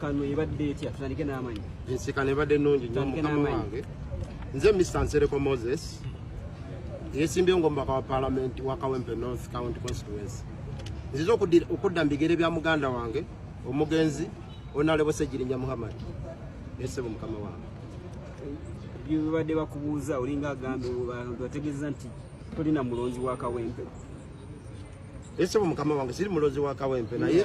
Ensisinkano ebadde etya? Tutandike n'amanyi. Ensisinkano ebadde nnungi nnyo mukama wange. Nze Mr. Nsereko Moses yesimbyewo ng'omubaka wa palamenti wa Kawempe North County Constituency. Nzize okudda mu bigere bya muganda wange omugenzi Onalebo Ssegirinya Muhammad. Yesebo mukama wange. Byebadde bakubuuza olinga agambye bategeeza nti tolina mulonzi wa Kawempe. ese mu mukama wange siri mulozi wa kawempe naye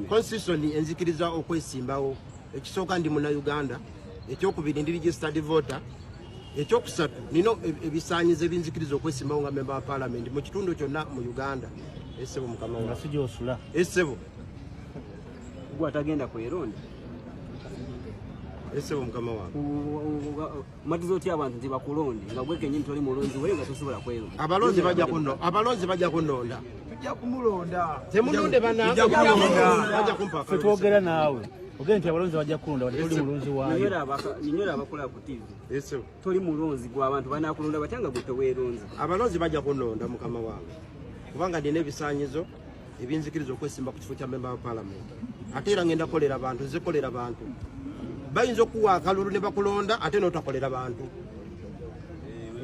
constitution enzikiriza okwesimbawo ekisooka ndi muna uganda ekyokubiri ndi registered voter ekyokusatu nino e, ebisanyizo ebinzikiriza okwesimbawo nga memba wa parliament mu kitundu kyonna mu uganda esebo mukama wange sije osula esebo gwa tagenda kweronda esebo mukama wange matiza otya abantu nti bakulonde nga gwe kenyini toli mulonzi wee nga tosobola kwelonda abalonzi bajja kuno abalonzi bajja kunonda tujja kumulonda temunonde banange bajja kumpa twogera naawe ogende nti abalonzi bajja kulonda wadde toli mulonzi waayonyora abakola ku tv toli mulonzi gwe abantu banakulonda batya nga gwe teweeronzi abalonzi bajja kunonda mukama wange kubanga ndina ebisanyizo ebinzikiriza okwesimba ku kifo kya memba wa palamenti ate era ngenda kolera bantu nze kolera bantu bayinza okuwa akalulu ne bakulonda ate notakolera bantu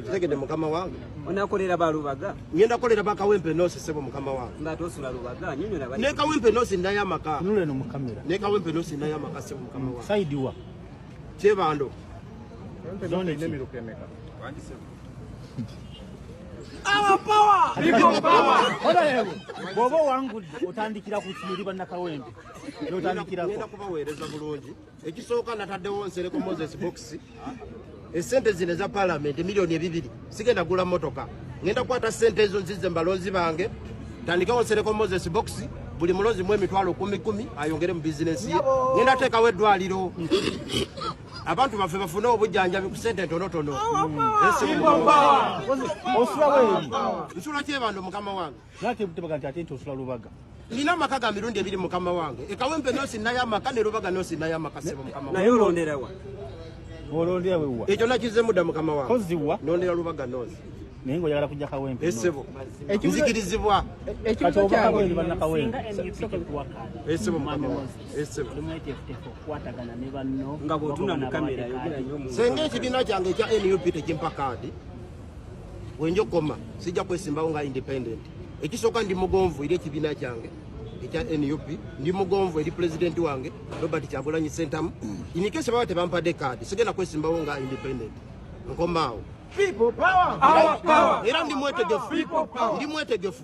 kitegede mukama wange onakolera balubaga ngenda kolera bakawempe nosi sebo mukama wange nga tosula lubaga nyinyo na bali ne kawempe nosi ndaya maka nule no mukamera ne kawempe nosi ndaya maka sebo mukama wange side wa chebando zone ne mirukemeka wangi sebo Our power! People power! Honorable, bw'oba owangudde otandikira ku kiyiri bannakawempe n'otandikirako. Ngenda kubaweereza bulungi. Ekisooka nataddewo Nsereko Moses Box. Essente zino eza palamenti miliyoni ebibiri sigenda gula mmotoka. Ngenda kukwata ssente ezo nzize mbalonzi bange. Tandikawo Nsereko Moses Box. buli mulozi mu emitwalo kumi kumi ayongere mu bizinesi ye ngenda teekawo eddwaliro abantu baffe bafune obujjanjabi ku sente entonotono nsula kyebando mukama wange nina amaka ga mirundi ebiri mukama wange ekawempe nosi nayo amaka ne lubaga nosi nayo amaka sebo mukama naye olonderawa olondera wewa ekyo nakizemu dda mukama wange koziwa nondera lubaga nosi naye nga oyagala kujja kawempe esebo nzikirizibwa ekyo kya kawempe banakawempe esebo mukama wange senga ekibiina kyange ekya nup tekimpa kaadi wenja okukoma sijja kwesimbawo nga independent ekisooka ndi mugonvu eri ekibiina kyange ekya nup ndi mugonvu eri pulezidenti wange robert kyagulanyi sentamu inikese baba tebampadde kaadi sigenda kwesimbawo nga independent nkomaawo era ndi mwetegefu ndi mwetegefu